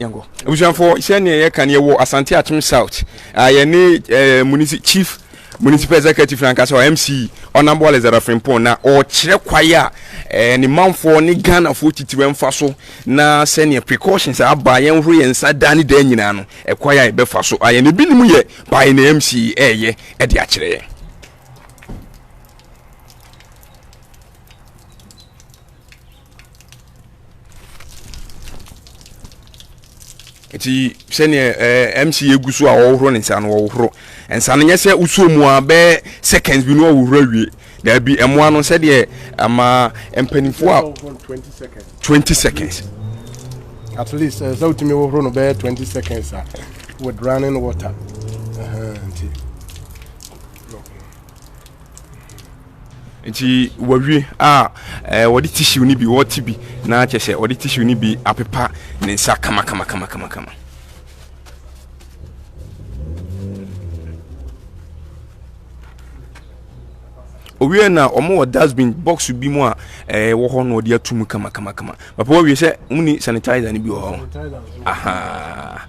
yankɔ abusuafoɔ sɛdeɛ yɛka no yɛwɔ asante atom south uh, yɛne uh, munisi chief municipal executive na nkasa mc ɔnambo alexander frimpon na ɔkyerɛ kwae a eh, ne manfoɔ ne ghanafoɔ titiri mfa so na sɛnea precautions aba yɛn horo yɛn nsa daa ne daa nyinaa no ɛkwae a yɛbɛfa so ayɛ na ebinom yɛ by na mc ɛɛyɛ ɛde akyerɛ yɛn nti sɛdeɛ ɛɛ eh, mc egu so a ɔhohoro ne nsa no ɔhohoro nsa no nyɛ sɛ wosuo mu a bɛɛ seconds bi no ɔhohoro awie daabi ɛmoa no sɛdeɛ ama mpanimfoɔ a twenty seconds. at least ɛsɛ eh, wotumi hohoro no bɛɛ twenty seconds a with running water nti. Uh -huh, nti wɔwie a ɛɛ wɔde tissue no bi wɔte bi na kyɛ sɛ wɔde tissue no bi apepa ne nsa kamakamakamakama. owie na wɔn wɔ dustbin box bi mu a ɛɛ wɔ hɔ na wɔde atum kamakamakama papa wɔwie sɛ wɔn ni sanitizer no bi wɔ hɔ aha.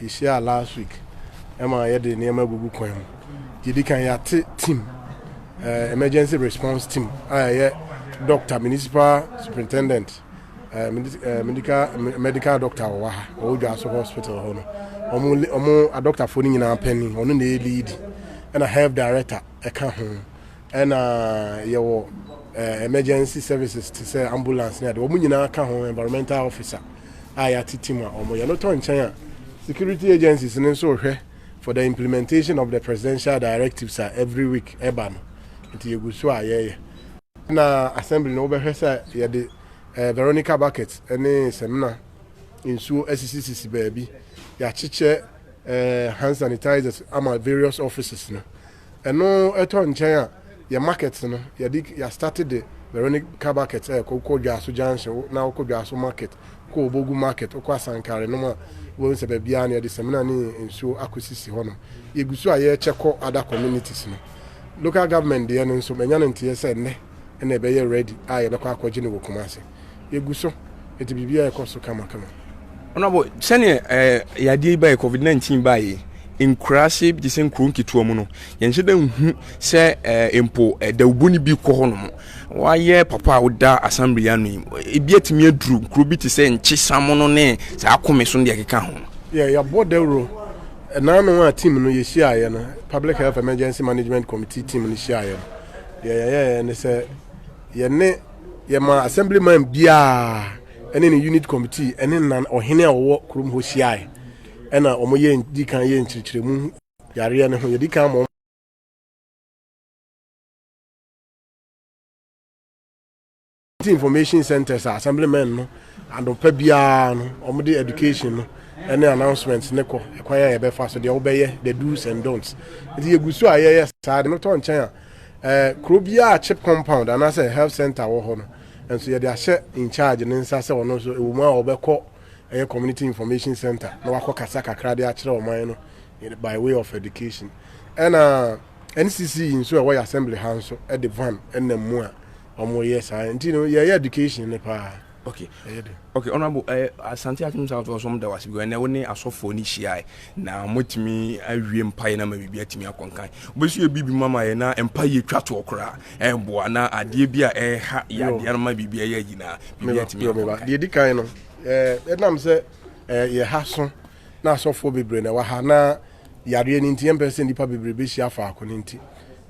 Yɛhyiaa last week ɛma yɛde nneɛma agugu kwan mu. Yɛdi kan yɛate team, uh, emergency response team a ɛyɛ doctor, municipal superintendent, uh, medical, medical doctor wɔ ha, ɔwɔ Dwaso hospital hɔ no. Ɔmo, ɔmo adɔktafoɔ no nyinaa panyin, ɔno na ɛyɛ lead. Ɛna health director ɛka ho. Ɛna yɛwɔ uh, emergency services te sɛ ambulance ne ade. Ɔmo nyinaa ka ho, environmental officer. a yɛatete mu a wɔyɛ no tɔ nkyɛn a, security agencies no nso rehwɛ for the implementation of the presidential directives a every week ɛba no. Nti yɛgu so a yɛyɛ. Na assembly no wobɛhwɛ sɛ yɛde eh, Veronica bucket ne samina nsuo asisisisi baabi. Yɛakyekyɛ eh, hand sanitizers ama various offices no. Ɛno ɛtɔ nkyɛn a yɛ market no yɛde yɛ start de Veronic car bucket ɛkɔ wokɔ dwaso junction wo na wokɔ dwaso market wokɔ obogu market wokɔ asankare nom a wobɛhu sɛ baabiaa no yɛde samina ne nsuo akɔ sisi hɔ nom yɛgu so a yɛkyɛ kɔ other communities no local government deɛ no nso manya no nteɛ sɛ nnɛ ɛna ɛbɛyɛ ready a yɛbɛkɔ akɔgye no wɔ Kumasi. yɛgu so de biribiara ɛkɔ so kamakama. Ɔnabɔ sɛnea ɛɛ yadeɛ yi baeɛ covid nineteen baeɛ nkuraase bi te sɛ nkuro nketewa mu no yɛnhyɛ dɛ nhu sɛ ɛɛ mpo ɛdawubo no bi kɔ hɔ nom wɔayɛ papa a woda asambere ano yi ebi atumi aduru nkuro bi te sɛ nkye samono ne saa akome so no deɛ ɛkeka ho. yɛ yɛabɔ dawuro ɛnaano a team no yɛhyiaeɛ no public health emergency management committee team no hyiaeɛ no deɛ yɛyɛɛ ne sɛ Yɛne yɛmaa assemblyman biara ne ne unit committee ne nan ɔhene a wɔwɔ kurom hɔ hyiae, ɛna wɔyɛ di kan yɛ nkyerɛkyerɛmu yareɛ no ho. Yɛdi kan ma information centers a assemblyman no anɔpa biara no wɔde education no ne announcements ne kɔ ɛkwan a yɛbɛfa so deɛ wobɛyɛ the do's and don'ts nti yɛgu so a yɛyɛ saa de no tɔ nkyɛn a Ɛɛ, kuro biara a chip compound anaasɛ health centre wɔ hɔ no nso yɛde ahyɛ in charge ne nsa sɛ ɔno nso ɛwɔ mu a ɔbɛkɔ ɛyɛ community information centre na wakɔ kasa kakra de akyerɛ ɔman no by way of education. Ɛna NCC nso ɛwɔ yɛ assembly ha nso ɛde van ɛnam mu a wɔyɛ saa nti no yɛyɛ education no paa. okay okay honorable ɛ eh, asante akim south west wɔn da wase because ɛnna wɔne asɔfoɔ ne hyia na wɔatumi awie mpaeɛ na ma biribi atumi akɔnkan wobɛsi yɛ biribi ma ma yɛ na mpaeɛ twa toɔ koraa ɛboa na adeɛ bi a ɛha yɛ adeɛ no ma biribi ɛyɛ ayi na biribi atumi akɔnkan deɛ di kan no ɛnam sɛ yɛ ha so na asɔfoɔ bebree na ɛwɔ ha na yareɛ no nti yɛmpɛ sɛ nnipa bebree bɛhyia faako no nti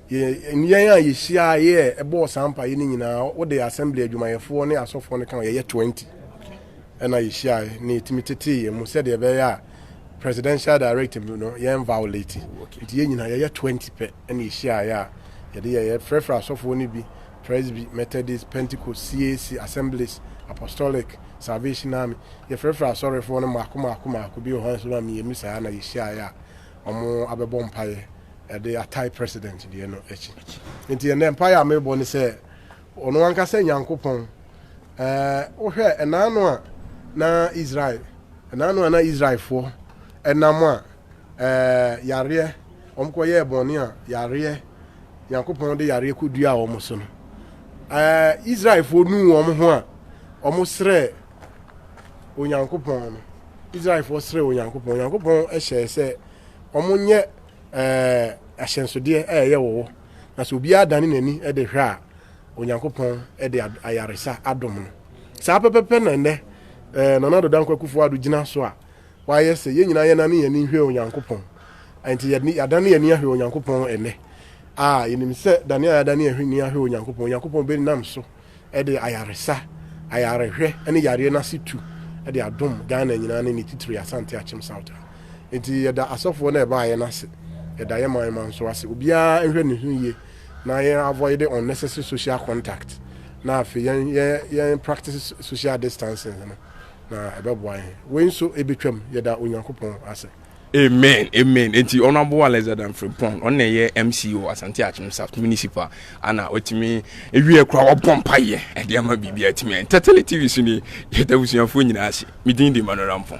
Yɛn yɛn a yehyiaeɛ bɔɔ saa mpaeɛ no nyinaa, wode assembly adwumayɛfoɔ ne asɔfoɔ no ka ho, yɛyɛ 20 ɛna yɛhyiaeɛ na yɛtumi tetee yɛn mu sɛdeɛ ɛbɛyɛ a presidential directive no yɛn violate nti yɛn nyinaa yɛyɛ 20 pɛ ɛna yɛhyiaeɛ a yɛde yɛyɛ frɛfrɛ asɔfoɔ no bi presby methodist pentecost cac assemblies apostolic salvation army yɛfrɛfrɛ asɔrefoɔ no mmaako mmaako mmaako bi wɔ hɔ nso ma mmienu saa na yɛhyiaeɛ a wɔabɛbɔ mpaeɛ de atae president deɛ no akyi. Nti ɛnɛ mpaeɛ a mebɔ ne sɛ ɔno ankasa Nyankopɔn wohwɛ ɛnaa no a na Israel ɛnaa no a na Israelfoɔ ɛnam a yareɛ wɔn kɔyɛɛ bɔne a yareɛ Nyankopɔn de yareɛ kɔduaa wɔn so no Israelfoɔ nuu wɔn ho a wɔn srɛɛ Onyankopɔn no, Israelfoɔ srɛɛ Onyankopɔn. Onyankopɔn hyɛɛ sɛ wɔnyɛ ahyɛnsodeɛ a ɛyɛ wɔwɔ, na sɛ obiara dane n'ani de hwɛ a, Onyankopɔn de ayaresa adom no. Saa pɛpɛpɛ na nnɛ Nana Addo Dankwa Akufo-Addo gyina so a wayɛ sɛ yɛn nyinaa yɛnane yɛn ani nhwɛ Onyankopɔn. Enti yɛadane yɛn ani ahwɛ Onyankopɔn nnɛ a yɛnim sɛ dane a yɛadane yɛn ani ahwɛ Onyankopɔn, Onyankopɔn bɛnam so de ayaresa, ayarehwɛ ne yareɛ no ase tu de adom Ghana nyinaa ne ne titire Asante Akyem South ha. Nti yɛda asɔfoɔ no a ɛbaeɛ no ase, yɛda yɛn man ma nso ase. Obiara nhwɛ ne ho yie na yɛn avoid unnecessary social contact na afei yɛn yɛn yɛn practice social distancing no na ɛbɛboa yɛn. Wei nso ɛbɛtwam, yɛda Onyankopɔn ase. Amen amen enti honourable Alexander Mfrempong ɔno na ɛyɛ MC wɔ Asante Akyem South Municipal ana watumi ewie kura wɔbɔ mpa yɛ ɛde ama biribi atumi ɛn Tetele TV so ni yɛda abusuafoɔ nyinaa ase medin de Emmanuel Rampong